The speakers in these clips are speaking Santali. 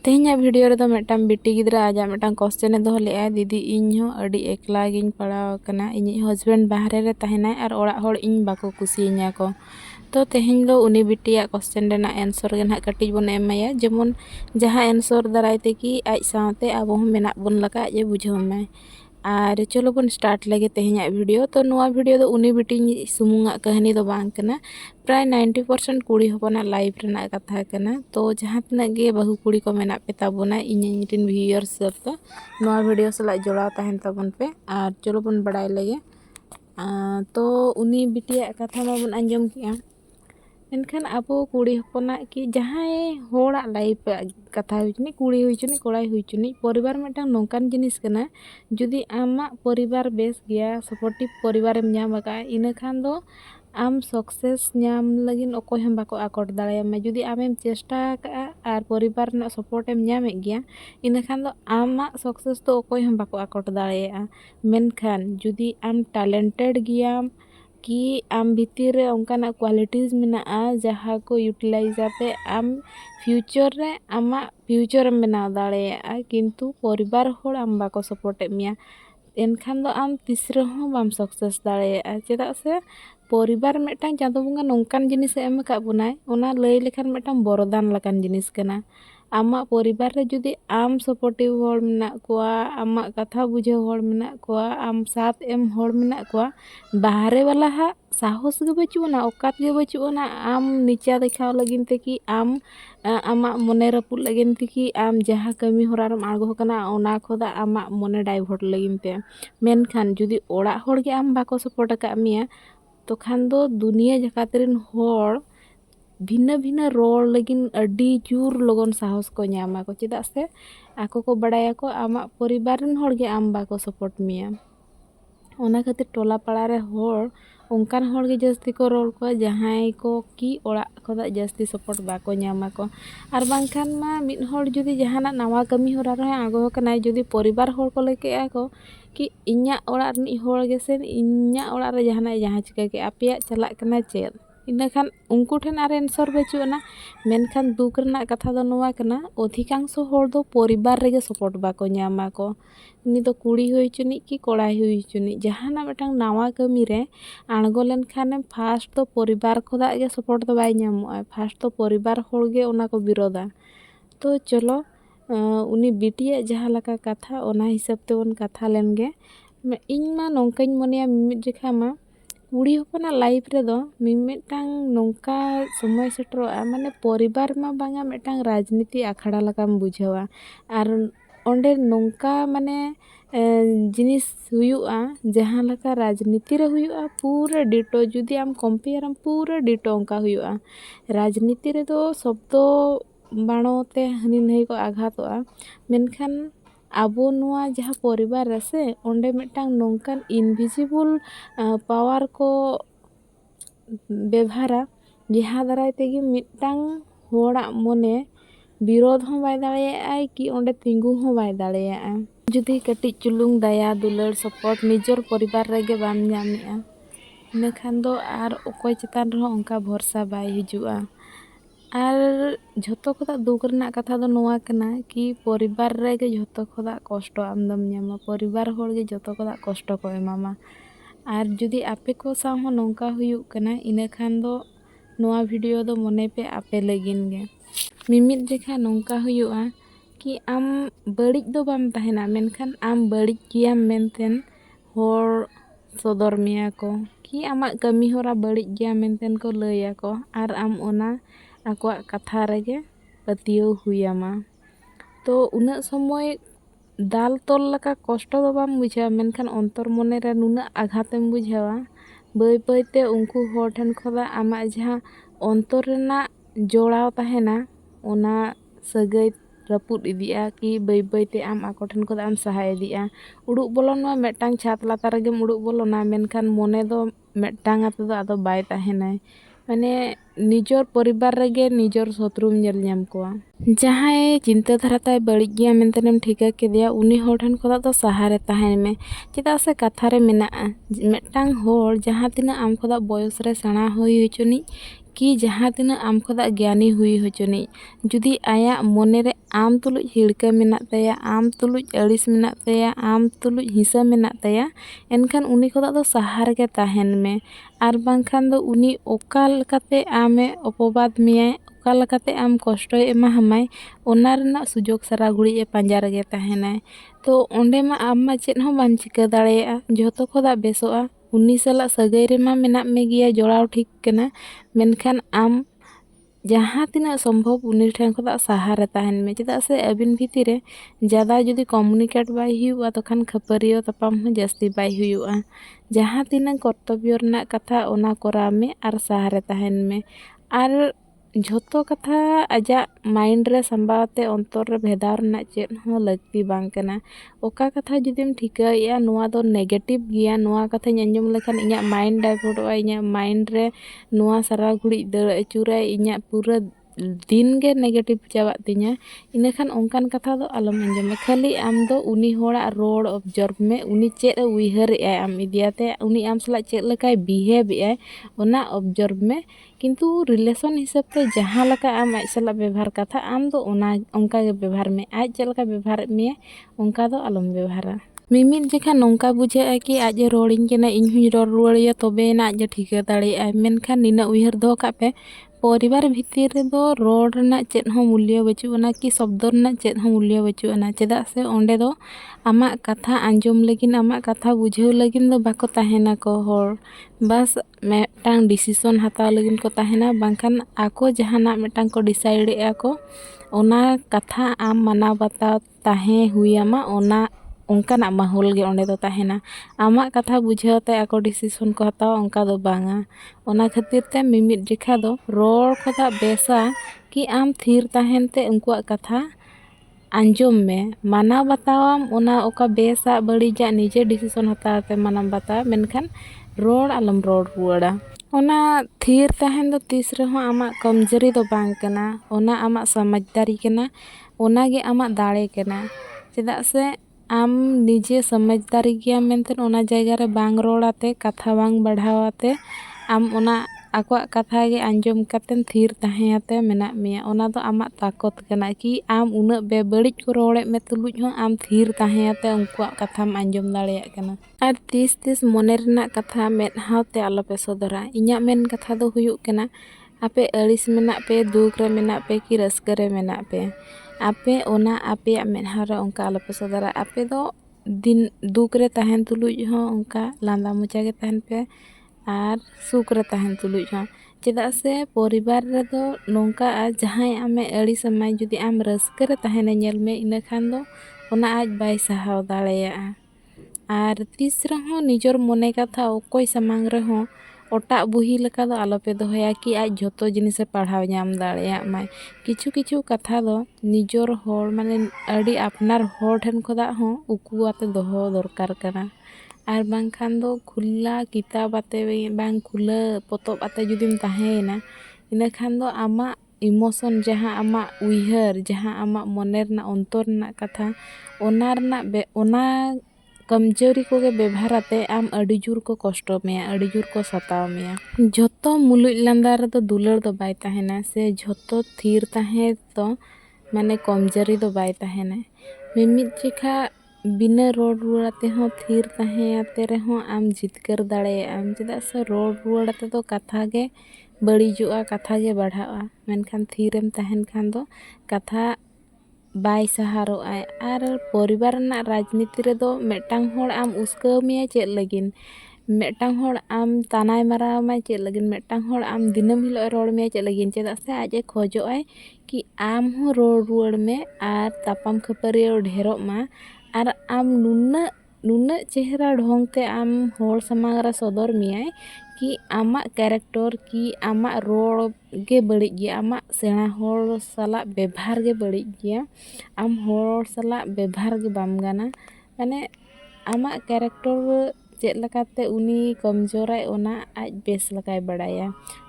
ᱛᱮᱦᱮᱧᱟᱜ ᱵᱷᱤᱰᱤᱭᱳ ᱨᱮᱫᱚ ᱢᱤᱫᱴᱟᱝ ᱵᱤᱴᱤ ᱜᱤᱫᱽᱨᱟᱹ ᱟᱡᱟᱜ ᱢᱤᱫᱴᱟᱝ ᱠᱚᱥᱪᱮᱱᱮ ᱫᱚᱦᱚ ᱞᱮᱫᱼᱟ ᱫᱤᱫᱤ ᱤᱧ ᱦᱚᱸ ᱟᱹᱰᱤ ᱮᱠᱞᱟ ᱜᱤᱧ ᱯᱟᱲᱟᱣ ᱟᱠᱟᱱᱟ ᱤᱧᱤᱡ ᱦᱚᱥᱵᱮᱱᱰ ᱵᱟᱦᱨᱮ ᱨᱮ ᱛᱟᱦᱮᱱᱟᱭ ᱟᱨ ᱚᱲᱟᱜ ᱦᱚᱲ ᱤᱧ ᱵᱟᱠᱚ ᱠᱩᱥᱤᱭᱟᱹᱧᱟ ᱠᱚ ᱛᱚ ᱛᱮᱦᱮᱧ ᱫᱚ ᱩᱱᱤ ᱵᱤᱴᱤᱭᱟᱜ ᱠᱚᱥᱪᱮᱱ ᱨᱮᱱᱟᱜ ᱮᱱᱥᱚᱨ ᱜᱮ ᱱᱟᱦᱟᱜ ᱠᱟᱹᱴᱤᱡ ᱵᱚᱱ ᱮᱢᱟᱭᱟ ᱡᱮᱢᱚᱱ ᱡᱟᱦᱟᱸ ᱮᱱᱥᱚᱨ ᱫᱟᱨᱟᱭ ᱛᱮᱜᱮ ᱟᱡ ᱥᱟᱶᱛᱮ ᱟᱵᱚ ᱦᱚᱸ ᱢᱮᱱᱟᱜ ᱵᱚᱱ ᱞᱮᱠᱟ ᱟᱡ ᱮ ᱵᱩᱡᱷᱟᱹᱣ ᱢᱟᱭ ᱟᱨ ᱪᱚᱞᱚ ᱵᱚᱱ ᱥᱴᱟᱨᱴ ᱞᱮᱜᱮ ᱛᱮᱦᱮᱧᱟᱜ ᱵᱷᱤᱰᱤᱭᱳ ᱛᱚ ᱱᱚᱣᱟ ᱵᱷᱤᱰᱤᱭᱳ ᱫᱚ ᱩᱱᱤ ᱵᱤᱴᱤ ᱥᱩᱢᱩᱝᱟᱜ ᱠᱟᱹᱦᱱᱤ ᱫᱚ ᱵᱟᱝ ᱠᱟᱱᱟ ᱯᱨᱟᱭ ᱱᱟᱭᱤᱱᱴᱤ ᱯᱟᱨᱥᱮᱱᱴ ᱠᱩᱲᱤ ᱦᱚᱯᱚᱱᱟᱜ ᱞᱟᱭᱤᱯᱷ ᱨᱮᱱᱟᱜ ᱠᱟᱛᱷᱟ ᱠᱟᱱᱟ ᱛᱚ ᱡᱟᱦᱟᱸ ᱛᱤᱱᱟᱹᱜ ᱜᱮ ᱵᱟᱹᱦᱩ ᱠᱩᱲᱤ ᱠᱚ ᱢᱮᱱᱟᱜ ᱯᱮ ᱛᱟᱵᱚᱱᱟ ᱤᱧ ᱤᱧᱨᱮᱱ ᱵᱷᱤᱭᱩᱭᱟᱨᱥ ᱫᱚ ᱱᱚᱣᱟ ᱵᱷᱤᱰᱤᱭᱳ ᱥᱟᱞᱟᱜ ᱡᱚᱲᱟᱣ ᱛᱟᱦᱮᱱ ᱛᱟᱵᱚᱱ ᱯᱮ ᱟᱨ ᱪᱚᱞᱚ ᱵᱚᱱ ᱵᱟᱲᱟᱭ ᱞᱮᱜᱮ ᱛᱚ ᱩᱱᱤ ᱵᱤᱴᱤᱭᱟᱜ ᱠᱟᱛᱷᱟ ᱢᱟᱵᱚᱱ ᱟᱸᱡᱚᱢ ᱠᱮᱜᱼᱟ ᱢᱮᱱᱠᱷᱟᱱ ᱟᱵᱚ ᱠᱩᱲᱤ ᱦᱚᱯᱚᱱᱟᱜ ᱠᱤ ᱡᱟᱦᱟᱸᱭ ᱦᱚᱲᱟᱜ ᱞᱟᱭᱤᱯᱷ ᱨᱮᱭᱟᱜ ᱠᱟᱛᱷᱟ ᱦᱩᱭ ᱪᱚᱱᱤᱡ ᱠᱩᱲᱤ ᱦᱩᱭ ᱪᱚᱱᱤᱡ ᱠᱚᱲᱟᱭ ᱦᱩᱭ ᱪᱚᱱᱤᱡ ᱯᱚᱨᱤᱵᱟᱨ ᱢᱤᱫᱴᱟᱝ ᱱᱚᱝᱠᱟᱱ ᱡᱤᱱᱤᱥ ᱠᱟᱱᱟ ᱡᱩᱫᱤ ᱟᱢᱟᱜ ᱯᱚᱨᱤᱵᱟᱨ ᱵᱮᱥ ᱜᱮᱭᱟ ᱥᱟᱯᱳᱴᱤᱵᱷ ᱯᱚᱨᱤᱵᱟᱨᱮᱢ ᱧᱟᱢ ᱟᱠᱟᱫᱼᱟ ᱤᱱᱟᱹ ᱠᱷᱟᱱ ᱫᱚ ᱟᱢ ᱥᱟᱠᱥᱮᱥ ᱧᱟᱢ ᱞᱟᱹᱜᱤᱫ ᱚᱠᱚᱭ ᱦᱚᱸ ᱵᱟᱠᱚ ᱟᱠᱚᱴ ᱫᱟᱲᱮᱭᱟᱢᱟ ᱡᱩᱫᱤ ᱟᱢᱮᱢ ᱪᱮᱥᱴᱟ ᱟᱠᱟᱫᱼᱟ ᱟᱨ ᱯᱚᱨᱤᱵᱟᱨ ᱨᱮᱱᱟᱜ ᱥᱟᱯᱳᱨᱴᱮᱢ ᱧᱟᱢᱮᱫ ᱜᱮᱭᱟ ᱤᱱᱟᱹ ᱠᱷᱟᱱ ᱫᱚ ᱟᱢᱟᱜ ᱥᱟᱠᱥᱮᱥ ᱫᱚ ᱚᱠᱚᱭ ᱦᱚᱸ ᱵᱟᱠᱚ ᱟᱠᱚᱴ ᱫᱟᱲᱮᱭᱟᱜᱼᱟ ᱢᱮᱱᱠᱷᱟᱱ ᱡᱩᱫᱤ ᱟᱢ ᱴᱮᱞᱮᱱᱴᱮᱰ ᱜᱮᱭᱟᱢ ᱠᱤ ᱟᱢ ᱵᱷᱤᱛᱤᱨ ᱨᱮ ᱚᱱᱠᱟᱱᱟᱜ ᱠᱳᱣᱟᱞᱤᱴᱤᱡᱽ ᱢᱮᱱᱟᱜᱼᱟ ᱡᱟᱦᱟᱸ ᱠᱚ ᱤᱭᱩᱴᱤᱞᱟᱭᱤᱡᱽ ᱟᱛᱮ ᱟᱢ ᱯᱷᱤᱭᱩᱪᱚᱨ ᱨᱮ ᱟᱢᱟᱜ ᱯᱷᱤᱭᱩᱪᱚᱨ ᱮᱢ ᱵᱮᱱᱟᱣ ᱫᱟᱲᱮᱭᱟᱜᱼᱟ ᱠᱤᱱᱛᱩ ᱯᱚᱨᱤᱵᱟᱨ ᱦᱚᱲ ᱟᱢ ᱵᱟᱠᱚ ᱥᱟᱯᱳᱨᱴ ᱮᱫ ᱢᱮᱭᱟ ᱮᱱᱠᱷᱟᱱ ᱫᱚ ᱟᱢ ᱛᱤᱥ ᱨᱮᱦᱚᱸ ᱵᱟᱢ ᱥᱟᱠᱥᱮᱥ ᱫᱟᱲᱮᱭᱟᱜᱼᱟ ᱪᱮᱫᱟᱜ ᱥᱮ ᱯᱚᱨᱤᱵᱟᱨ ᱢᱤᱫᱴᱟᱝ ᱪᱟᱸᱫᱳ ᱵᱚᱸᱜᱟ ᱱᱚᱝᱠᱟᱱ ᱡᱤᱱᱤᱥᱮ ᱮᱢ ᱟᱠᱟᱫ ᱵᱚᱱᱟᱭ ᱚᱱᱟ ᱞᱟᱹᱭ ᱞᱮᱠᱷᱟᱱ ᱢᱤᱫᱴᱟᱝ ᱵᱚᱨᱫᱟᱱ ᱞᱮᱠᱟᱱ ᱡᱤᱱᱤᱥ ᱠᱟᱱᱟ ᱟᱢᱟᱜ ᱯᱚᱨᱤᱵᱟᱨ ᱨᱮ ᱡᱩᱫᱤ ᱟᱢ ᱥᱟᱯᱳᱴᱤᱵᱽ ᱦᱚᱲ ᱢᱮᱱᱟᱜ ᱠᱚᱣᱟ ᱟᱢᱟᱜ ᱠᱟᱛᱷᱟ ᱵᱩᱡᱷᱟᱹᱣ ᱦᱚᱲ ᱢᱮᱱᱟᱜ ᱠᱚᱣᱟ ᱟᱢ ᱥᱟᱛᱷ ᱮᱢ ᱦᱚᱲ ᱢᱮᱱᱟᱜ ᱠᱚᱣᱟ ᱵᱟᱦᱨᱮ ᱵᱟᱞᱟ ᱦᱟᱸᱜ ᱥᱟᱦᱚᱥ ᱜᱮ ᱵᱟᱹᱪᱩᱜ ᱟᱱᱟ ᱚᱠᱟᱛ ᱜᱮ ᱵᱟᱹᱪᱩᱜ ᱟᱱᱟ ᱟᱢ ᱱᱤᱪᱟ ᱫᱮᱠᱷᱟᱣ ᱞᱟᱹᱜᱤᱫ ᱛᱮᱠᱤ ᱟᱢ ᱟᱢᱟᱜ ᱢᱚᱱᱮ ᱨᱟᱹᱯᱩᱫ ᱞᱟᱹᱜᱤᱫ ᱛᱮᱠᱤ ᱟᱢ ᱡᱟᱦᱟᱸ ᱠᱟᱹᱢᱤ ᱦᱚᱨᱟ ᱨᱮᱢ ᱟᱬᱜᱚ ᱟᱠᱟᱱᱟ ᱚᱱᱟ ᱠᱷᱚᱱᱟᱜ ᱟᱢᱟᱜ ᱢᱚᱱᱮ ᱰᱟᱭᱵᱷᱟᱨᱴ ᱞᱟᱹᱜᱤᱫ ᱛᱮ ᱢᱮᱱᱠᱷᱟᱱ ᱡᱩᱫᱤ ᱚᱲᱟᱜ ᱦᱚᱲ ᱜᱮ ᱟᱢ ᱵᱟᱠᱚ ᱥᱟᱯᱳᱨᱴ ᱟᱠᱟᱫ ᱢᱮᱭᱟ ᱛᱚᱠᱷᱟᱱ ᱫᱚ ᱫᱩᱱᱤᱭᱟᱹ ᱡᱟᱠᱟᱛ ᱨᱮᱱ ᱦᱚᱲ ᱵᱷᱤᱱᱟᱹ ᱵᱷᱤᱱᱟᱹ ᱨᱚᱲ ᱞᱟᱹᱜᱤᱫ ᱟᱹᱰᱤ ᱡᱳᱨ ᱞᱚᱜᱚᱱ ᱥᱟᱦᱚᱥ ᱠᱚ ᱧᱟᱢᱟ ᱠᱚ ᱪᱮᱫᱟᱜ ᱥᱮ ᱟᱠᱚ ᱠᱚ ᱵᱟᱲᱟᱭᱟᱠᱚ ᱟᱢᱟᱜ ᱯᱚᱨᱤᱵᱟᱨ ᱨᱮᱱ ᱦᱚᱲ ᱜᱮ ᱟᱢ ᱵᱟᱠᱚ ᱥᱟᱯᱳᱨᱴ ᱢᱮᱭᱟ ᱚᱱᱟ ᱠᱷᱟᱹᱛᱤᱨ ᱴᱚᱞᱟ ᱯᱟᱲᱟ ᱨᱮ ᱦᱚᱲ ᱚᱱᱠᱟᱱ ᱦᱚᱲ ᱜᱮ ᱡᱟᱹᱥᱛᱤ ᱠᱚ ᱨᱚᱲ ᱠᱚᱣᱟ ᱡᱟᱦᱟᱸᱭ ᱠᱚ ᱠᱤ ᱚᱲᱟᱜ ᱠᱷᱚᱱᱟᱜ ᱡᱟᱹᱥᱛᱤ ᱥᱟᱯᱳᱨᱴ ᱵᱟᱠᱚ ᱧᱟᱢᱟ ᱠᱚ ᱟᱨ ᱵᱟᱝᱠᱷᱟᱱ ᱢᱟ ᱢᱤᱫ ᱦᱚᱲ ᱡᱩᱫᱤ ᱡᱟᱦᱟᱱᱟᱜ ᱱᱟᱣᱟ ᱠᱟᱹᱢᱤ ᱦᱚᱨᱟ ᱨᱮᱦᱚᱸᱭ ᱟᱬᱜᱚ ᱟᱠᱟᱱᱟᱭ ᱡᱩᱫᱤ ᱯᱚᱨᱤᱵᱟᱨ ᱦᱚᱲ ᱠᱚ ᱞᱟᱹᱭ ᱠᱮᱫᱼᱟ ᱠᱚ ᱠᱤ ᱤᱧᱟᱹᱜ ᱚᱲᱟᱜ ᱨᱤᱱᱤᱡ ᱦᱚᱲ ᱜᱮᱥᱮ ᱤᱧᱟᱹᱜ ᱚᱲᱟᱜ ᱨᱮ ᱡᱟᱦᱟᱱᱟᱜ ᱮ ᱡᱟᱦᱟᱸ ᱪᱤᱠᱟᱹ ᱠᱮᱫᱼᱟ ᱟᱯᱮᱭᱟᱜ ᱪᱟᱞᱟᱜ ᱠᱟᱱᱟ ᱪᱮᱫ ᱤᱱᱟᱹ ᱠᱷᱟᱱ ᱩᱱᱠᱩ ᱴᱷᱮᱱ ᱟᱨ ᱮᱱᱥᱟᱨ ᱵᱟᱹᱪᱩᱜ ᱟᱱᱟ ᱢᱮᱱᱠᱷᱟᱱ ᱫᱩᱠ ᱨᱮᱱᱟᱜ ᱠᱟᱛᱷᱟ ᱫᱚ ᱱᱚᱣᱟ ᱠᱟᱱᱟ ᱚᱫᱷᱤᱠᱟᱝᱥᱚ ᱦᱚᱲ ᱫᱚ ᱯᱚᱨᱤᱵᱟᱨ ᱨᱮᱜᱮ ᱥᱟᱯᱳᱨᱴ ᱵᱟᱠᱚ ᱧᱟᱢᱟ ᱠᱚ ᱩᱱᱤ ᱫᱚ ᱠᱩᱲᱤ ᱦᱩᱭ ᱦᱚᱪᱚᱱᱤᱡ ᱠᱤ ᱠᱚᱲᱟᱭ ᱦᱩᱭ ᱦᱚᱪᱚᱱᱤᱡ ᱡᱟᱦᱟᱱᱟᱜ ᱢᱤᱫᱴᱟᱝ ᱱᱟᱣᱟ ᱠᱟᱹᱢᱤ ᱨᱮ ᱟᱬᱜᱚ ᱞᱮᱱᱠᱷᱟᱱᱮᱢ ᱯᱷᱟᱥᱴ ᱫᱚ ᱯᱚᱨᱤᱵᱟᱨ ᱠᱷᱚᱱᱟᱜ ᱜᱮ ᱥᱟᱯᱳᱨᱴ ᱫᱚ ᱵᱟᱭ ᱧᱟᱢᱚᱜᱼᱟ ᱯᱷᱟᱥᱴ ᱫᱚ ᱯᱚᱨᱤᱵᱟᱨ ᱦᱚᱲ ᱜᱮ ᱚᱱᱟ ᱠᱚ ᱵᱤᱨᱳᱫᱟ ᱛᱚ ᱪᱚᱞᱚ ᱩᱱᱤ ᱵᱤᱴᱤᱭᱟᱜ ᱡᱟᱦᱟᱸ ᱞᱮᱠᱟ ᱠᱟᱛᱷᱟ ᱚᱱᱟ ᱦᱤᱥᱟᱹᱵ ᱛᱮᱵᱚᱱ ᱠᱟᱛᱷᱟ ᱞᱮᱱᱜᱮ ᱤᱧ ᱢᱟ ᱱᱚᱝᱠᱟᱧ ᱢᱚᱱᱮᱭᱟ ᱢᱤᱢᱤᱫ ᱡᱚᱠᱷᱟᱡ ᱢᱟ ᱠᱩᱲᱤ ᱦᱚᱯᱚᱱᱟᱜ ᱞᱟᱭᱤᱯᱷ ᱨᱮᱫᱚ ᱢᱤᱢᱤᱫᱴᱟᱝ ᱱᱚᱝᱠᱟ ᱥᱚᱢᱚᱭ ᱥᱮᱴᱮᱨᱚᱜᱼᱟ ᱢᱟᱱᱮ ᱯᱚᱨᱤᱵᱟᱨ ᱢᱟ ᱵᱟᱝᱟ ᱢᱤᱫᱴᱟᱝ ᱨᱟᱡᱽᱱᱤᱛᱤ ᱟᱠᱷᱲᱟ ᱞᱮᱠᱟᱢ ᱵᱩᱡᱷᱟᱹᱣᱟ ᱟᱨ ᱚᱸᱰᱮ ᱱᱚᱝᱠᱟ ᱢᱟᱱᱮ ᱡᱤᱱᱤᱥ ᱦᱩᱭᱩᱜᱼᱟ ᱡᱟᱦᱟᱸ ᱞᱮᱠᱟ ᱨᱟᱡᱽᱱᱤᱛᱤ ᱨᱮ ᱦᱩᱭᱩᱜᱼᱟ ᱯᱩᱨᱟᱹ ᱰᱤᱴᱳ ᱡᱩᱫᱤ ᱟᱢ ᱠᱚᱢᱯᱮᱭᱟᱨᱟᱢ ᱯᱩᱨᱟᱹ ᱰᱤᱴᱳ ᱚᱱᱠᱟ ᱦᱩᱭᱩᱜᱼᱟ ᱨᱟᱡᱽᱱᱤᱛᱤ ᱨᱮᱫᱚ ᱥᱚᱵᱫᱚ ᱵᱟᱱᱚ ᱛᱮ ᱦᱟᱹᱱᱤ ᱱᱟᱹᱭ ᱠᱚ ᱟᱜᱷᱟᱛᱚᱜᱼᱟ ᱢᱮᱱᱠᱷᱟᱱ ᱟᱵᱚ ᱱᱚᱣᱟ ᱡᱟᱦᱟᱸ ᱯᱚᱨᱤᱵᱟᱨ ᱨᱮᱥᱮ ᱚᱸᱰᱮ ᱢᱤᱫᱴᱟᱝ ᱱᱚᱝᱠᱟᱱ ᱤᱱᱵᱷᱤᱡᱤᱵᱚᱞ ᱯᱟᱣᱟᱨ ᱠᱚ ᱵᱮᱵᱷᱟᱨᱟ ᱡᱟᱦᱟᱸ ᱫᱟᱨᱟᱭ ᱛᱮᱜᱮ ᱢᱤᱫᱴᱟᱝ ᱦᱚᱲᱟᱜ ᱢᱚᱱᱮ ᱵᱤᱨᱳᱫᱷ ᱦᱚᱸ ᱵᱟᱭ ᱫᱟᱲᱮᱭᱟᱜᱼᱟᱭ ᱠᱤ ᱚᱸᱰᱮ ᱛᱤᱸᱜᱩ ᱦᱚᱸ ᱵᱟᱭ ᱫᱟᱲᱮᱭᱟᱜᱼᱟ ᱡᱩᱫᱤ ᱠᱟᱹᱴᱤᱡ ᱪᱩᱞᱩᱝ ᱫᱟᱭᱟ ᱫᱩᱞᱟᱹᱲ ᱥᱚᱯᱚᱴ ᱱᱤᱡᱚᱨ ᱯᱚᱨᱤᱵᱟᱨ ᱨᱮᱜᱮ ᱵᱟᱢ ᱧᱟᱢᱮᱜᱼᱟ ᱤᱱᱟᱹ ᱠᱷᱟᱱ ᱫᱚ ᱟᱨ ᱚᱠᱚᱭ ᱪᱮᱛᱟᱱ ᱨᱮᱦᱚᱸ ᱚᱱᱠᱟ ᱵᱷᱚᱨᱥᱟ ᱵᱟᱭ ᱦᱤᱡᱩᱜᱼᱟ ᱟᱨ ᱡᱷᱚᱛᱚ ᱠᱷᱚᱱᱟᱜ ᱫᱩᱠ ᱨᱮᱱᱟᱜ ᱠᱟᱛᱷᱟ ᱫᱚ ᱱᱚᱣᱟ ᱠᱟᱱᱟ ᱠᱤ ᱯᱚᱨᱤᱵᱟᱨ ᱨᱮᱜᱮ ᱡᱷᱚᱛᱚ ᱠᱷᱚᱱᱟᱜ ᱠᱚᱥᱴᱚ ᱟᱢ ᱫᱚᱢ ᱧᱟᱢᱟ ᱯᱚᱨᱤᱵᱟᱨ ᱦᱚᱲ ᱜᱮ ᱡᱷᱚᱛᱚ ᱠᱷᱚᱱᱟᱜ ᱠᱚᱥᱴᱚ ᱠᱚ ᱮᱢᱟᱢᱟ ᱟᱨ ᱡᱩᱫᱤ ᱟᱯᱮ ᱠᱚ ᱥᱟᱶ ᱦᱚᱸ ᱱᱚᱝᱠᱟ ᱦᱩᱭᱩᱜ ᱠᱟᱱᱟ ᱤᱱᱟᱹ ᱠᱷᱟᱱ ᱫᱚ ᱱᱚᱣᱟ ᱵᱷᱤᱰᱤᱭᱳ ᱫᱚ ᱢᱚᱱᱮᱭ ᱯᱮ ᱟᱯᱮ ᱞᱟᱹᱜᱤᱫ ᱜᱮ ᱢᱤᱢᱤᱫ ᱡᱚᱠᱷᱟᱱ ᱱᱚᱝᱠᱟ ᱦᱩᱭᱩᱜᱼᱟ ᱠᱤ ᱟᱢ ᱵᱟᱹᱲᱤᱡ ᱫᱚ ᱵᱟᱢ ᱛᱟᱦᱮᱱᱟ ᱢᱮᱱᱠᱷᱟᱱ ᱟᱢ ᱵᱟᱹᱲᱤᱡ ᱜᱮᱭᱟᱢ ᱢᱮᱱᱛᱮ ᱦᱚᱲ ᱥᱚᱫᱚᱨ ᱢᱮᱭᱟ ᱠᱚ ᱠᱤ ᱟᱢᱟᱜ ᱠᱟᱹᱢᱤ ᱦᱚᱨᱟ ᱵᱟᱹᱲᱤᱡ ᱜᱮᱭᱟ ᱢᱮᱱᱛᱮ ᱠᱚ ᱞᱟᱹᱭ ᱟᱠᱚ ᱟᱨ ᱟᱢ ᱚᱱᱟ ᱟᱠᱚᱣᱟᱜ ᱠᱟᱛᱷᱟ ᱨᱮᱜᱮ ᱯᱟᱹᱛᱭᱟᱹᱣ ᱦᱩᱭ ᱟᱢᱟ ᱛᱚ ᱩᱱᱟᱹᱜ ᱥᱚᱢᱚᱭ ᱫᱟᱞ ᱛᱚᱞ ᱞᱮᱠᱟ ᱠᱚᱥᱴᱚ ᱫᱚ ᱵᱟᱢ ᱵᱩᱡᱷᱟᱹᱣᱟ ᱢᱮᱱᱠᱷᱟᱱ ᱚᱱᱛᱚᱨ ᱢᱚᱱᱮ ᱨᱮ ᱱᱩᱱᱟᱹᱜ ᱟᱜᱷᱟᱛ ᱮᱢ ᱵᱩᱡᱷᱟᱹᱣᱟ ᱵᱟᱹᱭ ᱵᱟᱹᱭ ᱛᱮ ᱩᱱᱠᱩ ᱦᱚᱲ ᱴᱷᱮᱱ ᱠᱷᱚᱱᱟᱜ ᱟᱢᱟᱜ ᱡᱟᱦᱟᱸ ᱚᱱᱛᱚᱨ ᱨᱮᱱᱟᱜ ᱡᱚᱲᱟᱣ ᱛᱟᱦᱮᱱᱟ ᱚᱱᱟ ᱥᱟᱹᱜᱟᱹᱭ ᱨᱟᱹᱯᱩᱫ ᱤᱫᱤᱜᱼᱟ ᱠᱤ ᱵᱟᱹᱭ ᱵᱟᱹᱭ ᱛᱮ ᱟᱢ ᱟᱠᱚ ᱴᱷᱮᱱ ᱠᱷᱚᱱ ᱫᱚ ᱟᱢ ᱥᱟᱦᱟ ᱤᱫᱤᱜᱼᱟ ᱩᱲᱩᱜ ᱵᱚᱞᱚᱱ ᱢᱟ ᱢᱤᱫᱴᱟᱝ ᱪᱷᱟᱫᱽ ᱞᱟᱛᱟᱨ ᱨᱮᱜᱮᱢ ᱩᱲᱩᱜ ᱵᱚᱞᱚᱱᱟ ᱢᱮᱱᱠᱷᱟᱱ ᱢᱚᱱᱮ ᱫᱚ ᱢᱤᱫᱴᱟᱝ ᱟᱛᱮ ᱫᱚ ᱟᱫᱚ ᱵᱟᱭ ᱛᱟᱦᱮᱱᱟᱭ ᱢᱟᱱᱮ ᱱᱤᱡᱚᱨ ᱯᱚᱨᱤᱵᱟᱨ ᱨᱮᱜᱮ ᱱᱤᱡᱚᱨ ᱥᱚᱛᱨᱩᱢ ᱧᱮᱞ ᱧᱟᱢ ᱠᱚᱣᱟ ᱡᱟᱦᱟᱸᱭ ᱪᱤᱱᱛᱟᱹ ᱫᱷᱟᱨᱟ ᱛᱟᱭ ᱵᱟᱹᱲᱤᱡ ᱜᱮᱭᱟ ᱢᱮᱱᱛᱮᱢ ᱴᱷᱤᱠᱟᱹ ᱠᱮᱫᱮᱭᱟ ᱩᱱᱤ ᱦᱚᱲ ᱴᱷᱮᱱ ᱠᱷᱚᱱᱟᱜ ᱫᱚ ᱥᱟᱦᱟ ᱨᱮ ᱛᱟᱦᱮᱱ ᱢᱮ ᱪᱮᱫᱟᱜ ᱥᱮ ᱠᱟᱛᱷᱟ ᱨᱮ ᱢᱮᱱᱟᱜᱼᱟ ᱢᱤᱫᱴᱟᱝ ᱦᱚᱲ ᱡᱟᱦᱟᱸ ᱛᱤᱱᱟᱹᱜ ᱟᱢ ᱠᱷᱚᱱᱟᱜ ᱵᱚᱭᱚᱥ ᱨᱮ ᱥᱮᱬᱟ ᱦᱩᱭ ᱦᱚᱪᱚᱱᱤᱡ ᱠᱤ ᱡᱟᱦᱟᱸ ᱛᱤᱱᱟᱹᱜ ᱟᱢ ᱠᱷᱚᱱᱟᱜ ᱜᱮᱭᱟᱱᱤ ᱦᱩᱭ ᱦᱚᱪᱚᱱᱤᱡ ᱡᱩᱫᱤ ᱟᱭᱟᱜ ᱢᱚᱱᱮ ᱨᱮ ᱟᱢ ᱛᱩᱞᱩᱡ ᱦᱤᱨᱠᱟᱹ ᱢᱮᱱᱟᱜ ᱛᱟᱭᱟ ᱟᱢ ᱛᱩᱞᱩᱡ ᱟᱹᱲᱤᱥ ᱢᱮᱱᱟᱜ ᱛᱟᱭᱟ ᱟᱢ ᱛᱩᱞᱩᱡ ᱦᱤᱥᱟᱹ ᱢᱮᱱᱟᱜ ᱛᱟᱭᱟ ᱮᱱᱠᱷᱟᱱ ᱩᱱᱤ ᱠᱷᱚᱱᱟᱜ ᱫᱚ ᱥᱟᱦᱟ ᱨᱮᱜᱮ ᱛᱟᱦᱮᱱ ᱢᱮ ᱟᱨ ᱵᱟᱝᱠᱷᱟᱱ ᱫᱚ ᱩᱱᱤ ᱚᱠᱟ ᱞᱮᱠᱟᱛᱮ ᱟᱢᱮ ᱚᱯᱚᱵᱟᱫᱽ ᱢᱮᱭᱟᱭ ᱚᱠᱟ ᱞᱮᱠᱟᱛᱮ ᱟᱢ ᱠᱚᱥᱴᱚᱭ ᱮᱢᱟ ᱦᱟᱢᱟᱭ ᱚᱱᱟ ᱨᱮᱱᱟᱜ ᱥᱩᱡᱳᱜᱽ ᱥᱟᱨᱟ ᱜᱷᱩᱲᱤᱡ ᱮ ᱯᱟᱸᱡᱟ ᱨᱮᱜᱮ ᱛᱟᱦᱮᱱᱟᱭ ᱛᱚ ᱚᱸᱰᱮ ᱢᱟ ᱟᱢ ᱢᱟ ᱪᱮᱫ ᱦᱚᱸ ᱵᱟᱢ ᱪᱤᱠᱟᱹ ᱫᱟᱲᱮᱭᱟᱜᱼᱟ ᱡᱚᱛᱚ ᱠᱷᱚᱱᱟᱜ ᱵᱮᱥᱚᱜᱼᱟ ᱩᱱᱤ ᱥᱟᱞᱟᱜ ᱥᱟᱹᱜᱟᱹᱭ ᱨᱮᱢᱟ ᱢᱮᱱᱟᱜ ᱢᱮᱜᱮᱭᱟ ᱡᱚᱲᱟᱣ ᱴᱷᱤᱠ ᱠᱟᱱᱟ ᱢᱮᱱᱠᱷᱟᱱ ᱟᱢ ᱡᱟᱦᱟᱸ ᱛᱤᱱᱟᱹᱜ ᱥᱚᱢᱵᱷᱚᱵ ᱩᱱᱤ ᱴᱷᱮᱱ ᱠᱷᱚᱱᱟᱜ ᱥᱟᱦᱟ ᱨᱮ ᱛᱟᱦᱮᱱ ᱢᱮ ᱪᱮᱫᱟᱜ ᱥᱮ ᱟᱹᱵᱤᱱ ᱵᱷᱤᱛᱤᱨ ᱨᱮ ᱡᱟᱫᱟ ᱡᱩᱫᱤ ᱠᱚᱢᱩᱱᱤᱠᱮᱴ ᱵᱟᱭ ᱦᱩᱭᱩᱜᱼᱟ ᱛᱚᱠᱷᱟᱱ ᱠᱷᱟᱹᱯᱟᱹᱨᱤᱭᱟᱹ ᱛᱟᱯᱟᱢ ᱦᱚᱸ ᱡᱟᱹᱥᱛᱤ ᱵᱟᱭ ᱦᱩᱭᱩᱜᱼᱟ ᱡᱟᱦᱟᱸ ᱛᱤᱱᱟᱹᱜ ᱠᱚᱨᱛᱚᱵᱵᱚ ᱨᱮᱱᱟᱜ ᱠᱟᱛᱷᱟ ᱚᱱᱟ ᱠᱚᱨᱟᱣ ᱢᱮ ᱟᱨ ᱥᱟᱦᱟ ᱨᱮ ᱛᱟᱦᱮᱱ ᱢᱮ ᱟᱨ ᱡᱷᱚᱛᱚ ᱠᱟᱛᱷᱟ ᱟᱡᱟᱜ ᱢᱟᱭᱤᱱᱰ ᱨᱮ ᱥᱟᱢᱵᱟᱣ ᱟᱛᱮᱫ ᱚᱱᱛᱚᱨ ᱨᱮ ᱵᱷᱮᱫᱟᱣ ᱨᱮᱱᱟᱜ ᱪᱮᱫ ᱦᱚᱸ ᱞᱟᱹᱠᱛᱤ ᱵᱟᱝ ᱠᱟᱱᱟ ᱚᱠᱟ ᱠᱟᱛᱷᱟ ᱡᱩᱫᱤᱢ ᱴᱷᱤᱠᱟᱹᱭᱮᱫᱼᱟ ᱱᱚᱣᱟ ᱫᱚ ᱱᱮᱜᱮᱴᱤᱵᱷ ᱜᱮᱭᱟ ᱱᱚᱣᱟ ᱠᱟᱛᱷᱟᱧ ᱟᱸᱡᱚᱢ ᱞᱮᱠᱷᱟᱱ ᱤᱧᱟᱹᱜ ᱢᱟᱭᱤᱱᱰ ᱰᱟᱭᱵᱷᱟᱨᱴᱚᱜᱼᱟ ᱤᱧᱟᱹᱜ ᱢᱟᱭᱤᱱᱰ ᱨᱮ ᱱᱚᱣᱟ ᱥᱟᱨᱟ ᱜᱷᱟᱹᱲᱤᱡ ᱫᱟᱹᱲ ᱟᱹᱪᱩᱨᱟᱭ ᱤᱧᱟᱹᱜ ᱯᱩᱨᱟᱹ ᱫᱤᱱ ᱜᱮ ᱱᱮᱜᱮᱴᱤᱵᱷ ᱪᱟᱵᱟᱜ ᱛᱤᱧᱟᱹ ᱤᱱᱟᱹ ᱠᱷᱟᱱ ᱚᱱᱠᱟᱱ ᱠᱟᱛᱷᱟ ᱫᱚ ᱟᱞᱚᱢ ᱟᱸᱡᱚᱢᱟ ᱠᱷᱟᱹᱞᱤ ᱟᱢ ᱫᱚ ᱩᱱᱤ ᱦᱚᱲᱟᱜ ᱨᱚᱲ ᱚᱵᱽᱡᱟᱨᱵᱷ ᱢᱮ ᱩᱱᱤ ᱪᱮᱫ ᱮ ᱩᱭᱦᱟᱹᱨᱮᱫᱼᱟᱭ ᱟᱢ ᱤᱫᱤ ᱠᱟᱛᱮᱫ ᱩᱱᱤ ᱟᱢ ᱥᱟᱞᱟᱜ ᱪᱮᱫ ᱞᱮᱠᱟᱭ ᱵᱤᱦᱮᱵᱷ ᱮᱫᱟᱭ ᱚᱱᱟ ᱚᱵᱽᱡᱟᱨᱵᱷ ᱢᱮ ᱠᱤᱱᱛᱩ ᱨᱤᱞᱮᱥᱚᱱ ᱦᱤᱥᱟᱹᱵ ᱛᱮ ᱡᱟᱦᱟᱸ ᱞᱮᱠᱟ ᱟᱢ ᱟᱡ ᱥᱟᱞᱟᱜ ᱵᱮᱵᱷᱟᱨ ᱠᱟᱛᱷᱟ ᱟᱢ ᱫᱚ ᱚᱱᱟ ᱚᱱᱠᱟ ᱜᱮ ᱵᱮᱵᱷᱟᱨ ᱢᱮ ᱟᱡ ᱪᱮᱫ ᱞᱮᱠᱟ ᱵᱮᱵᱷᱟᱨᱮᱫ ᱢᱮᱭᱟᱭ ᱚᱱᱠᱟ ᱫᱚ ᱟᱞᱚᱢ ᱵᱮᱵᱷᱟᱨᱟ ᱢᱤᱢᱤᱫ ᱡᱚᱠᱷᱟᱱ ᱱᱚᱝᱠᱟ ᱵᱩᱡᱷᱟᱹᱜᱼᱟ ᱠᱤ ᱟᱡ ᱮ ᱨᱚᱲᱤᱧ ᱠᱟᱱᱟ ᱤᱧ ᱦᱚᱸᱧ ᱨᱚᱲ ᱨᱩᱣᱟᱹᱲ ᱟᱭᱟ ᱛᱚᱵᱮ ᱟᱱᱟᱜ ᱟᱡ ᱮ ᱴᱷᱤᱠᱟᱹ ᱫᱟᱲᱮᱭᱟᱜᱼᱟᱭ ᱢᱮᱱᱠᱷᱟᱱ ᱱᱤᱱᱟᱹᱜ ᱩᱭᱦᱟᱹᱨ ᱫᱚᱦᱚ ᱠᱟᱜ ᱯᱮ ᱯᱚᱨᱤᱵᱟᱨ ᱵᱷᱤᱛᱤᱨ ᱨᱮᱫᱚ ᱨᱚᱲ ᱨᱮᱱᱟᱜ ᱪᱮᱫ ᱦᱚᱸ ᱢᱩᱞᱞᱚ ᱵᱟᱹᱪᱩᱜ ᱟᱱᱟ ᱠᱤ ᱥᱚᱵᱫᱚ ᱨᱮᱱᱟᱜ ᱪᱮᱫ ᱦᱚᱸ ᱢᱩᱞᱞᱚ ᱵᱟᱹᱪᱩᱜ ᱟᱱᱟ ᱪᱮᱫᱟᱜ ᱥᱮ ᱚᱸᱰᱮ ᱫᱚ ᱟᱢᱟᱜ ᱠᱟᱛᱷᱟ ᱟᱸᱡᱚᱢ ᱞᱟᱹᱜᱤᱫ ᱟᱢᱟᱜ ᱠᱟᱛᱷᱟ ᱵᱩᱡᱷᱟᱹᱣ ᱞᱟᱹᱜᱤᱫ ᱫᱚ ᱵᱟᱠᱚ ᱛᱟᱦᱮᱱᱟᱠᱚ ᱦᱚᱲ ᱵᱟᱥ ᱢᱤᱫᱴᱟᱝ ᱰᱤᱥᱤᱥᱚᱱ ᱦᱟᱛᱟᱣ ᱞᱟᱹᱜᱤᱫ ᱠᱚ ᱛᱟᱦᱮᱱᱟ ᱵᱟᱝᱠᱷᱟᱱ ᱟᱠᱚ ᱡᱟᱦᱟᱱᱟᱜ ᱢᱤᱫᱴᱟᱝ ᱠᱚ ᱰᱤᱥᱟᱭᱤᱰᱮᱜᱼᱟ ᱠᱚ ᱚᱱᱟ ᱠᱟᱛᱷᱟ ᱟᱢ ᱢᱟᱱᱟᱣ ᱵᱟᱛᱟᱣ ᱛᱟᱦᱮᱸ ᱦᱩᱭ ᱟᱢᱟ ᱚᱱᱟ ᱚᱱᱠᱟᱱᱟᱜ ᱢᱚᱦᱚᱞ ᱜᱮ ᱚᱸᱰᱮ ᱫᱚ ᱛᱟᱦᱮᱱᱟ ᱟᱢᱟᱜ ᱠᱟᱛᱷᱟ ᱵᱩᱡᱷᱟᱹᱣ ᱛᱮ ᱟᱠᱚ ᱰᱤᱥᱤᱥᱚᱱ ᱠᱚ ᱦᱟᱛᱟᱣᱟ ᱚᱱᱠᱟ ᱫᱚ ᱵᱟᱝᱟ ᱚᱱᱟ ᱠᱷᱟᱹᱛᱤᱨ ᱛᱮ ᱢᱤᱢᱤᱫ ᱡᱚᱠᱷᱟ ᱫᱚ ᱨᱚᱲ ᱠᱚᱫᱚ ᱵᱮᱥᱟ ᱠᱤ ᱟᱢ ᱛᱷᱤᱨ ᱛᱟᱦᱮᱱ ᱛᱮ ᱩᱱᱠᱩᱣᱟᱜ ᱠᱟᱛᱷᱟ ᱟᱸᱡᱚᱢ ᱢᱮ ᱢᱟᱱᱟᱣ ᱵᱟᱛᱟᱣᱟᱢ ᱚᱱᱟ ᱚᱠᱟ ᱵᱮᱥᱟᱜ ᱵᱟᱹᱲᱤᱡᱟᱜ ᱱᱤᱡᱮ ᱰᱤᱥᱤᱥᱚᱱ ᱦᱟᱛᱟᱣ ᱠᱟᱛᱮᱫ ᱢᱟᱱᱟᱣ ᱵᱟᱛᱟᱣ ᱢᱮᱱᱠᱷᱟᱱ ᱨᱚᱲ ᱟᱞᱚᱢ ᱨᱚᱲ ᱨᱩᱣᱟᱹᱲᱟ ᱚᱱᱟ ᱛᱷᱤᱨ ᱛᱟᱦᱮᱱ ᱫᱚ ᱛᱤᱥ ᱨᱮᱦᱚᱸ ᱟᱢᱟᱜ ᱠᱚᱢᱡᱩᱨᱤ ᱫᱚ ᱵᱟᱝ ᱠᱟᱱᱟ ᱚᱱᱟ ᱟᱢᱟᱜ ᱥᱚᱢᱚᱡᱽᱫᱟᱨᱤ ᱠᱟᱱᱟ ᱚᱱᱟᱜᱮ ᱟᱢᱟᱜ ᱫᱟᱲᱮ ᱠᱟᱱᱟ ᱪᱮᱫᱟᱜ ᱥᱮ ᱟᱢ ᱱᱤᱡᱮ ᱥᱚᱢᱟᱡᱽᱫᱟᱨᱤ ᱜᱮᱭᱟᱢ ᱢᱮᱱᱛᱮ ᱚᱱᱟ ᱡᱟᱭᱜᱟ ᱨᱮ ᱵᱟᱝ ᱨᱚᱲ ᱟᱛᱮᱫ ᱠᱟᱛᱷᱟ ᱵᱟᱝ ᱵᱟᱲᱦᱟᱣ ᱟᱛᱮᱫ ᱟᱢ ᱚᱱᱟ ᱟᱠᱚᱣᱟᱜ ᱠᱟᱛᱷᱟ ᱜᱮ ᱟᱸᱡᱚᱢ ᱠᱟᱛᱮᱫ ᱛᱷᱤᱨ ᱛᱟᱦᱮᱸ ᱠᱟᱛᱮᱫ ᱢᱮᱱᱟᱜ ᱢᱮᱭᱟ ᱚᱱᱟ ᱫᱚ ᱟᱢᱟᱜ ᱛᱟᱠᱚᱛ ᱠᱟᱱᱟ ᱠᱤ ᱟᱢ ᱩᱱᱟᱹᱜ ᱵᱮᱼᱵᱟᱹᱲᱤᱡ ᱠᱚ ᱨᱚᱲᱮᱫ ᱢᱮ ᱛᱩᱞᱩᱡ ᱦᱚᱸ ᱟᱢ ᱛᱷᱤᱨ ᱛᱟᱦᱮᱸ ᱠᱟᱛᱮᱫ ᱩᱱᱠᱩᱣᱟᱜ ᱠᱟᱛᱷᱟᱢ ᱟᱸᱡᱚᱢ ᱫᱟᱲᱮᱭᱟᱜ ᱠᱟᱱᱟ ᱟᱨ ᱛᱤᱥ ᱛᱤᱥ ᱢᱚᱱᱮ ᱨᱮᱱᱟᱜ ᱠᱟᱛᱷᱟ ᱢᱮᱫᱦᱟ ᱛᱮ ᱟᱞᱚᱯᱮ ᱥᱚᱫᱚᱨᱟ ᱤᱧᱟᱹᱜ ᱢᱮᱱ ᱠᱟᱛᱷᱟ ᱫᱚ ᱦᱩᱭᱩᱜ ᱠᱟᱱᱟ ᱟᱯᱮ ᱟᱹᱲᱤᱥ ᱢᱮᱱᱟᱜ ᱯᱮ ᱫᱩᱠ ᱨᱮ ᱢᱮᱱᱟᱜ ᱯᱮ ᱠᱤ ᱨᱟᱹᱥᱠᱟᱹ ᱨᱮ ᱢᱮᱱᱟᱜ ᱯᱮ ᱟᱯᱮ ᱚᱱᱟ ᱟᱯᱮᱭᱟᱜ ᱢᱮᱫᱦᱟ ᱨᱮ ᱚᱱᱠᱟ ᱟᱞᱚᱯᱮ ᱥᱚᱫᱚᱨᱟ ᱟᱯᱮ ᱫᱚ ᱫᱤᱱ ᱫᱩᱠ ᱨᱮ ᱛᱟᱦᱮᱱ ᱛᱩᱞᱩᱡ ᱦᱚᱸ ᱚᱱᱠᱟ ᱞᱟᱸᱫᱟ ᱢᱚᱡᱟ ᱜᱮ ᱛᱟᱦᱮᱱ ᱯᱮ ᱟᱨ ᱥᱩᱠ ᱨᱮ ᱛᱟᱦᱮᱱ ᱛᱩᱞᱩᱡ ᱦᱚᱸ ᱪᱮᱫᱟᱜ ᱥᱮ ᱯᱚᱨᱤᱵᱟᱨ ᱨᱮᱫᱚ ᱱᱚᱝᱠᱟ ᱟᱨ ᱡᱟᱦᱟᱸᱭ ᱟᱢᱮ ᱟᱹᱲᱤᱥ ᱟᱢᱟᱭ ᱡᱩᱫᱤ ᱟᱢ ᱨᱟᱹᱥᱠᱟᱹ ᱨᱮ ᱛᱟᱦᱮᱱᱮ ᱧᱮᱞ ᱢᱮ ᱤᱱᱟᱹ ᱠᱷᱟᱱ ᱫᱚ ᱚᱱᱟ ᱟᱡ ᱵᱟᱭ ᱥᱟᱦᱟᱣ ᱫᱟᱲᱮᱭᱟᱜᱼᱟ ᱟᱨ ᱛᱤᱥ ᱨᱮᱦᱚᱸ ᱱᱤᱡᱚᱨ ᱢᱚᱱᱮ ᱠᱟᱛᱷᱟ ᱚᱠᱚᱭ ᱥᱟᱢᱟᱝ ᱨᱮᱦᱚᱸ ᱚᱴᱟᱜ ᱵᱩᱦᱤ ᱞᱮᱠᱟ ᱫᱚ ᱟᱞᱚ ᱯᱮ ᱫᱚᱦᱚᱭᱟ ᱠᱤ ᱟᱡ ᱡᱷᱚᱛᱚ ᱡᱤᱱᱤᱥᱮ ᱯᱟᱲᱦᱟᱣ ᱧᱟᱢ ᱫᱟᱲᱮᱭᱟᱜ ᱢᱟᱭ ᱠᱤᱪᱷᱩ ᱠᱤᱪᱷᱩ ᱠᱟᱛᱷᱟ ᱫᱚ ᱱᱤᱡᱚᱨ ᱦᱚᱲ ᱢᱟᱱᱮ ᱟᱹᱰᱤ ᱟᱯᱱᱟᱨ ᱦᱚᱲ ᱴᱷᱮᱱ ᱠᱷᱚᱱᱟᱜ ᱦᱚᱸ ᱩᱠᱩ ᱟᱛᱮ ᱫᱚᱦᱚ ᱫᱚᱨᱠᱟᱨ ᱠᱟᱱᱟ ᱟᱨ ᱵᱟᱝᱠᱷᱟᱱ ᱫᱚ ᱠᱷᱩᱞᱟ ᱠᱤᱛᱟᱵ ᱟᱛᱮ ᱵᱟᱝ ᱠᱷᱩᱞᱟᱹ ᱯᱚᱛᱚᱵ ᱟᱛᱮ ᱡᱩᱫᱤᱢ ᱛᱟᱦᱮᱸᱭᱮᱱᱟ ᱤᱱᱟᱹ ᱠᱷᱟᱱ ᱫᱚ ᱟᱢᱟᱜ ᱤᱢᱳᱥᱚᱱ ᱡᱟᱦᱟᱸ ᱟᱢᱟᱜ ᱩᱭᱦᱟᱹᱨ ᱡᱟᱦᱟᱸ ᱟᱢᱟᱜ ᱢᱚᱱᱮ ᱨᱮᱱᱟᱜ ᱚᱱᱛᱚᱨ ᱨᱮᱱᱟᱜ ᱠᱟᱛᱷᱟ ᱚᱱᱟ ᱨᱮᱱᱟᱜ ᱚᱱᱟ ᱠᱟᱹᱢᱪᱟᱹᱨᱤ ᱠᱚᱜᱮ ᱵᱮᱵᱷᱟᱨ ᱟᱛᱮᱫ ᱟᱢ ᱟᱹᱰᱤ ᱡᱳᱨ ᱠᱚ ᱠᱚᱥᱴᱚ ᱢᱮᱭᱟ ᱟᱹᱰᱤ ᱡᱳᱨ ᱠᱚ ᱥᱟᱛᱟᱣ ᱢᱮᱭᱟ ᱡᱷᱚᱛᱚ ᱢᱩᱞᱩᱡ ᱞᱟᱸᱫᱟ ᱨᱮᱫᱚ ᱫᱩᱞᱟᱹᱲ ᱫᱚ ᱵᱟᱭ ᱛᱟᱦᱮᱱᱟ ᱥᱮ ᱡᱷᱚᱛᱚ ᱛᱷᱤᱨ ᱛᱟᱦᱮᱸ ᱫᱚ ᱢᱟᱱᱮ ᱠᱚᱢᱡᱩᱨᱤ ᱫᱚ ᱵᱟᱭ ᱛᱟᱦᱮᱱᱟ ᱢᱤᱢᱤᱫ ᱡᱚᱠᱷᱟᱡ ᱵᱤᱱᱟᱹ ᱨᱚᱲ ᱨᱩᱣᱟᱹᱲ ᱟᱛᱮᱫ ᱦᱚᱸ ᱛᱷᱤᱨ ᱛᱟᱦᱮᱸ ᱟᱛᱮᱫ ᱨᱮᱦᱚᱸ ᱟᱢ ᱡᱤᱛᱠᱟᱹᱨ ᱫᱟᱲᱮᱭᱟᱜ ᱟᱢ ᱪᱮᱫᱟᱜ ᱥᱮ ᱨᱚᱲ ᱨᱩᱣᱟᱹᱲ ᱟᱛᱮᱫ ᱫᱚ ᱠᱟᱛᱷᱟ ᱜᱮ ᱵᱟᱹᱲᱤᱡᱚᱜᱼᱟ ᱠᱟᱛᱷᱟ ᱜᱮ ᱵᱟᱲᱦᱟᱜᱼᱟ ᱢᱮᱱᱠᱷᱟᱱ ᱛᱷᱤᱨᱮᱢ ᱛᱟᱦᱮᱱ ᱠᱷᱟᱱ ᱫᱚ ᱠᱟᱛᱷᱟ ᱵᱟᱭ ᱥᱟᱦᱟᱨᱚᱜ ᱟᱭ ᱟᱨ ᱯᱚᱨᱤᱵᱟᱨ ᱨᱮᱱᱟᱜ ᱨᱟᱡᱽᱱᱤᱛᱤ ᱨᱮᱫᱚ ᱢᱤᱫᱴᱟᱝ ᱦᱚᱲ ᱟᱢ ᱩᱥᱠᱟᱹᱣ ᱢᱮᱭᱟᱭ ᱪᱮᱫ ᱞᱟᱹᱜᱤᱫ ᱢᱤᱫᱴᱟᱝ ᱦᱚᱲ ᱟᱢ ᱛᱟᱱᱟᱭ ᱢᱟᱨᱟᱣ ᱢᱮᱭᱟᱭ ᱪᱮᱫ ᱞᱟᱹᱜᱤᱫ ᱢᱤᱫᱴᱟᱝ ᱦᱚᱲ ᱟᱢ ᱫᱤᱱᱟᱹᱢ ᱦᱤᱞᱳᱜ ᱮ ᱨᱚᱲ ᱢᱮᱭᱟᱭ ᱪᱮᱫ ᱞᱟᱹᱜᱤᱫ ᱪᱮᱫᱟᱜ ᱥᱮ ᱟᱡ ᱮ ᱠᱷᱚᱡᱚᱜ ᱟᱭ ᱠᱤ ᱟᱢ ᱦᱚᱸ ᱨᱚᱲ ᱨᱩᱣᱟᱹᱲ ᱢᱮ ᱟᱨ ᱛᱟᱯᱟᱢ ᱠᱷᱟᱹᱯᱟᱹᱨᱤ ᱦᱚᱸ ᱰᱷᱮᱨᱚᱜ ᱢᱟ ᱟᱨ ᱟᱢ ᱱᱩᱱᱟᱹᱜ ᱱᱩᱱᱟᱹᱜ ᱪᱮᱦᱨᱟ ᱰᱷᱚᱝ ᱛᱮ ᱟᱢ ᱦᱚᱲ ᱥᱟᱢᱟᱝ ᱨᱮ ᱥᱚᱫᱚᱨ ᱢᱮᱭᱟᱭ ᱠᱤ ᱟᱢᱟᱜ ᱠᱮᱨᱮᱠᱴᱚᱨ ᱠᱤ ᱟᱢᱟᱜ ᱨᱚᱲ ᱜᱮ ᱵᱟᱹᱲᱤᱡ ᱜᱮᱭᱟ ᱟᱢᱟᱜ ᱥᱮᱬᱟ ᱦᱚᱲ ᱥᱟᱞᱟᱜ ᱵᱮᱵᱷᱟᱨ ᱜᱮ ᱵᱟᱹᱲᱤᱡ ᱜᱮᱭᱟ ᱟᱢ ᱦᱚᱲ ᱥᱟᱞᱟᱜ ᱵᱮᱵᱷᱟᱨ ᱜᱮ ᱵᱟᱢ ᱜᱟᱱᱟ ᱢᱟᱱᱮ ᱟᱢᱟᱜ ᱠᱮᱨᱮᱠᱴᱚᱨ ᱪᱮᱫ ᱞᱮᱠᱟᱛᱮ ᱩᱱᱤ ᱠᱚᱢᱡᱳᱨᱟᱭ ᱚᱱᱟ ᱟᱡ ᱵᱮᱥ ᱞᱮᱠᱟᱭ ᱵᱟᱲᱟᱭᱟ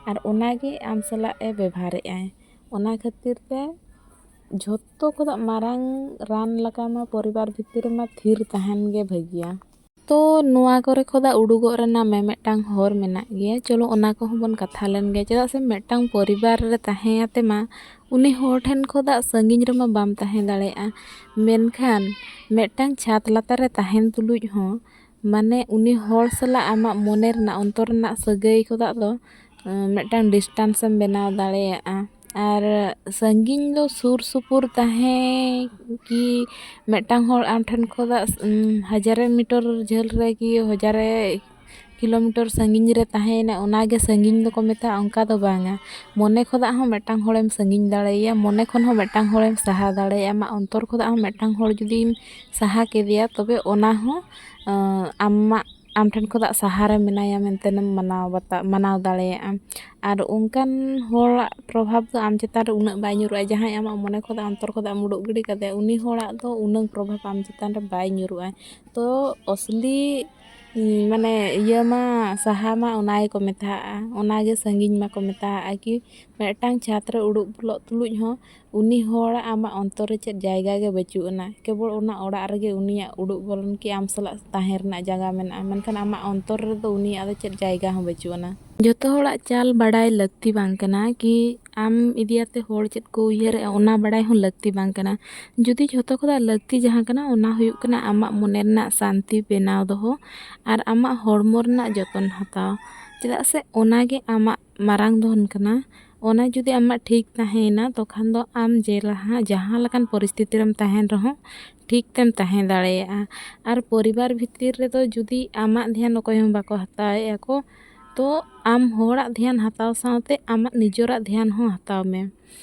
ᱟᱨ ᱚᱱᱟ ᱜᱮ ᱟᱢ ᱥᱟᱞᱟᱜ ᱮ ᱵᱮᱵᱷᱟᱨᱮᱫᱼᱟᱭ ᱚᱱᱟ ᱠᱷᱟᱹᱛᱤᱨ ᱛᱮ ᱡᱷᱚᱛᱚ ᱠᱷᱚᱱᱟᱜ ᱢᱟᱨᱟᱝ ᱨᱟᱱ ᱞᱮᱠᱟ ᱢᱟ ᱯᱚᱨᱤᱵᱟᱨ ᱵᱷᱤᱛᱤᱨ ᱨᱮᱢᱟ ᱛᱷᱤᱨ ᱛᱟᱦᱮᱱ ᱜᱮ ᱵᱷᱟᱹᱜᱤᱭᱟ ᱛᱚ ᱱᱚᱣᱟ ᱠᱚᱨᱮ ᱠᱷᱚᱱᱟᱜ ᱩᱰᱩᱠᱚᱜ ᱨᱮᱱᱟᱜ ᱢᱮᱢᱮᱫᱴᱟᱝ ᱦᱚᱨ ᱢᱮᱱᱟᱜ ᱜᱮᱭᱟ ᱪᱚᱞᱚ ᱚᱱᱟ ᱠᱚᱦᱚᱸ ᱵᱚᱱ ᱠᱟᱛᱷᱟ ᱞᱮᱱ ᱜᱮ ᱪᱮᱫᱟᱜ ᱥᱮ ᱢᱤᱫᱴᱟᱝ ᱯᱚᱨᱤᱵᱟᱨ ᱨᱮ ᱛᱟᱦᱮᱸ ᱠᱟᱛᱮ ᱢᱟ ᱩᱱᱤ ᱦᱚᱲ ᱴᱷᱮᱱ ᱠᱷᱚᱱᱟᱜ ᱥᱟᱺᱜᱤᱧ ᱨᱮᱢᱟ ᱵᱟᱢ ᱛᱟᱦᱮᱸ ᱫᱟᱲᱮᱭᱟᱜᱼᱟ ᱢᱮᱱᱠᱷᱟᱱ ᱢᱤᱫᱴᱟᱝ ᱪᱷᱟᱫᱽ ᱞᱟᱛᱟᱨ ᱨᱮ ᱛᱟᱦᱮᱱ ᱛᱩᱞᱩᱡ ᱦᱚᱸ ᱢᱟᱱᱮ ᱩᱱᱤ ᱦᱚᱲ ᱥᱟᱞᱟᱜ ᱟᱢᱟᱜ ᱢᱚᱱᱮ ᱨᱮᱱᱟᱜ ᱚᱱᱛᱚᱨ ᱨᱮᱱᱟᱜ ᱥᱟᱹᱜᱟᱹᱭ ᱠᱷᱚᱱᱟᱜ ᱫᱚ ᱢᱤᱫᱴᱟᱝ ᱰᱤᱥᱴᱮᱱᱥ ᱮᱢ ᱵᱮᱱᱟᱣ ᱫᱟᱲᱮᱭᱟᱜᱼᱟ ᱟᱨ ᱥᱟᱺᱜᱤᱧ ᱫᱚ ᱥᱩᱨ ᱥᱩᱯᱩᱨ ᱛᱟᱦᱮᱸ ᱠᱤ ᱢᱤᱫᱴᱟᱝ ᱦᱚᱲ ᱟᱢ ᱴᱷᱮᱱ ᱠᱷᱚᱱᱟᱜ ᱦᱟᱡᱟᱨ ᱢᱤᱴᱟᱨ ᱡᱷᱟᱹᱞ ᱨᱮᱠᱤ ᱦᱟᱡᱟᱨ ᱠᱤᱞᱳᱢᱤᱴᱟᱨ ᱥᱟᱺᱜᱤᱧ ᱨᱮ ᱛᱟᱦᱮᱸᱭᱮᱱᱟ ᱚᱱᱟ ᱜᱮ ᱥᱟᱺᱜᱤᱧ ᱫᱚᱠᱚ ᱢᱮᱛᱟᱜᱼᱟ ᱚᱱᱠᱟ ᱫᱚ ᱵᱟᱝᱟ ᱢᱚᱱᱮ ᱠᱷᱚᱱᱟᱜ ᱦᱚᱸ ᱢᱤᱫᱴᱟᱝ ᱦᱚᱲᱮᱢ ᱥᱟᱺᱜᱤᱧ ᱫᱟᱲᱮᱭᱟᱭᱟ ᱢᱚᱱᱮ ᱠᱷᱚᱱ ᱦᱚᱸ ᱢᱤᱫᱴᱟᱝ ᱦᱚᱲᱮᱢ ᱥᱟᱦᱟ ᱫᱟᱲᱮᱭᱟᱭᱟ ᱟᱢᱟᱜ ᱚᱱᱛᱚᱨ ᱠᱷᱚᱱᱟᱜ ᱦᱚᱸ ᱢᱤᱫᱴᱟᱝ ᱦᱚᱲ ᱡᱩᱫᱤᱢ ᱥᱟᱦᱟ ᱠᱮᱫᱮᱭᱟ ᱛᱚᱵᱮ ᱚᱱᱟ ᱦᱚᱸ ᱟᱢᱟᱜ ᱟᱢ ᱴᱷᱮᱱ ᱠᱷᱚᱱᱟᱜ ᱥᱟᱦᱟ ᱨᱮ ᱢᱮᱱᱟᱭᱟ ᱢᱮᱱᱛᱮ ᱮᱢ ᱢᱟᱱᱟᱣ ᱵᱟᱛᱟᱣ ᱢᱟᱱᱟᱣ ᱫᱟᱲᱮᱭᱟᱜᱼᱟ ᱟᱨ ᱚᱱᱠᱟᱱ ᱦᱚᱲᱟᱜ ᱯᱨᱚᱵᱷᱟᱵᱽ ᱫᱚ ᱟᱢ ᱪᱮᱛᱟᱱ ᱨᱮ ᱩᱱᱟᱹᱜ ᱵᱟᱭ ᱧᱩᱨᱩᱜᱼᱟ ᱡᱟᱦᱟᱸᱭ ᱟᱢᱟᱜ ᱢᱚᱱᱮ ᱠᱷᱚᱱᱟᱜ ᱚᱱᱛᱚᱨ ᱠᱷᱚᱱᱟᱜ ᱮᱢ ᱩᱰᱩᱠ ᱜᱤᱰᱤ ᱠᱟᱫᱮᱭᱟ ᱩᱱᱤ ᱦᱚᱲᱟᱜ ᱫᱚ ᱩᱱᱟᱹᱜ ᱯᱨᱚᱵᱷᱟᱵᱽ ᱟᱢ ᱪᱮᱛᱟᱱ ᱨᱮ ᱵᱟᱭ ᱧᱩᱨᱩᱜᱼᱟ ᱛᱚ ᱟᱥᱚᱞᱤ ᱢᱟᱱᱮ ᱤᱭᱟᱹ ᱢᱟ ᱥᱟᱦᱟ ᱢᱟ ᱚᱱᱟ ᱜᱮᱠᱚ ᱢᱮᱛᱟᱣᱟᱜᱼᱟ ᱚᱱᱟ ᱜᱮ ᱥᱟᱺᱜᱤᱧ ᱢᱟᱠᱚ ᱢᱮᱛᱟᱣᱟᱜᱼᱟ ᱠᱤ ᱢᱤᱫᱴᱟᱝ ᱪᱷᱟᱸᱫᱽ ᱨᱮ ᱩᱰᱩᱠ ᱵᱚᱞᱚᱜ ᱛᱩᱞᱩᱡ ᱦᱚᱸ ᱩᱱᱤ ᱦᱚᱲᱟᱜ ᱟᱢᱟᱜ ᱚᱱᱛᱚᱨ ᱨᱮ ᱪᱮᱫ ᱡᱟᱭᱜᱟ ᱜᱮ ᱵᱟᱹᱪᱩᱜ ᱟᱱᱟ ᱠᱮᱵᱚᱞ ᱚᱱᱟ ᱚᱲᱟᱜ ᱨᱮᱜᱮ ᱩᱱᱤᱭᱟᱜ ᱩᱰᱩᱜ ᱵᱚᱞᱚᱱ ᱠᱤ ᱟᱢ ᱥᱟᱞᱟᱜ ᱛᱟᱦᱮᱱ ᱨᱮᱱᱟᱜ ᱡᱟᱭᱜᱟ ᱢᱮᱱᱟᱜᱼᱟ ᱢᱮᱱᱠᱷᱟᱱ ᱟᱢᱟᱜ ᱚᱱᱛᱚᱨ ᱨᱮᱫᱚ ᱩᱱᱤᱭᱟᱜ ᱫᱚ ᱪᱮᱫ ᱡᱟᱭᱜᱟ ᱦᱚᱸ ᱵᱟᱹᱪᱩᱜ ᱟᱱᱟ ᱡᱚᱛᱚ ᱦᱚᱲᱟᱜ ᱪᱟᱞ ᱵᱟᱰᱟᱭ ᱞᱟᱹᱠᱛᱤ ᱵᱟᱝ ᱠᱟᱱᱟ ᱠᱤ ᱟᱢ ᱤᱫᱤ ᱠᱟᱛᱮ ᱦᱚᱲ ᱪᱮᱫ ᱠᱚ ᱩᱭᱦᱟᱹᱨᱮᱜᱼᱟ ᱚᱱᱟ ᱵᱟᱲᱟᱭ ᱦᱚᱸ ᱞᱟᱹᱠᱛᱤ ᱵᱟᱝ ᱠᱟᱱᱟ ᱡᱩᱫᱤ ᱡᱷᱚᱛᱚ ᱠᱷᱚᱱᱟᱜ ᱞᱟᱹᱠᱛᱤ ᱡᱟᱦᱟᱸ ᱠᱟᱱᱟ ᱚᱱᱟ ᱦᱩᱭᱩᱜ ᱠᱟᱱᱟ ᱟᱢᱟᱜ ᱢᱚᱱᱮ ᱨᱮᱱᱟᱜ ᱥᱟᱱᱛᱤ ᱵᱮᱱᱟᱣ ᱫᱚᱦᱚ ᱟᱨ ᱟᱢᱟᱜ ᱦᱚᱲᱢᱚ ᱨᱮᱱᱟᱜ ᱡᱚᱛᱚᱱ ᱦᱟᱛᱟᱣ ᱪᱮᱫᱟᱜ ᱥᱮ ᱚᱱᱟ ᱜᱮ ᱟᱢᱟᱜ ᱢᱟᱨᱟᱝ ᱫᱷᱚᱱ ᱠᱟᱱᱟ ᱚᱱᱟ ᱡᱩᱫᱤ ᱟᱢᱟᱜ ᱴᱷᱤᱠ ᱛᱟᱦᱮᱸᱭᱮᱱᱟ ᱛᱚᱠᱷᱟᱱ ᱫᱚ ᱟᱢ ᱡᱮ ᱞᱟᱦᱟᱸ ᱡᱟᱦᱟᱸ ᱞᱮᱠᱟᱱ ᱯᱚᱨᱤᱥᱛᱷᱤᱛᱤ ᱨᱮᱢ ᱛᱟᱦᱮᱱ ᱨᱮᱦᱚᱸ ᱴᱷᱤᱠ ᱛᱮᱢ ᱛᱟᱦᱮᱸ ᱫᱟᱲᱮᱭᱟᱜᱼᱟ ᱟᱨ ᱯᱚᱨᱤᱵᱟᱨ ᱵᱷᱤᱛᱤᱨ ᱨᱮᱫᱚ ᱡᱩᱫᱤ ᱟᱢᱟᱜ ᱫᱷᱮᱭᱟᱱ ᱚᱠᱚᱭ ᱦᱚᱸ ᱵᱟᱠᱚ ᱦᱟᱛᱟᱣᱮᱜᱼᱟ ᱠᱚ ᱛᱚ ᱟᱢ ᱦᱚᱲᱟᱜ ᱫᱷᱮᱭᱟᱱ ᱦᱟᱛᱟᱣ ᱥᱟᱶᱛᱮ ᱟᱢᱟᱜ ᱱᱤᱡᱮᱨᱟᱜ ᱫᱷᱮᱭᱟᱱ ᱦᱚᱸ ᱦᱟᱛᱟᱣ ᱢᱮ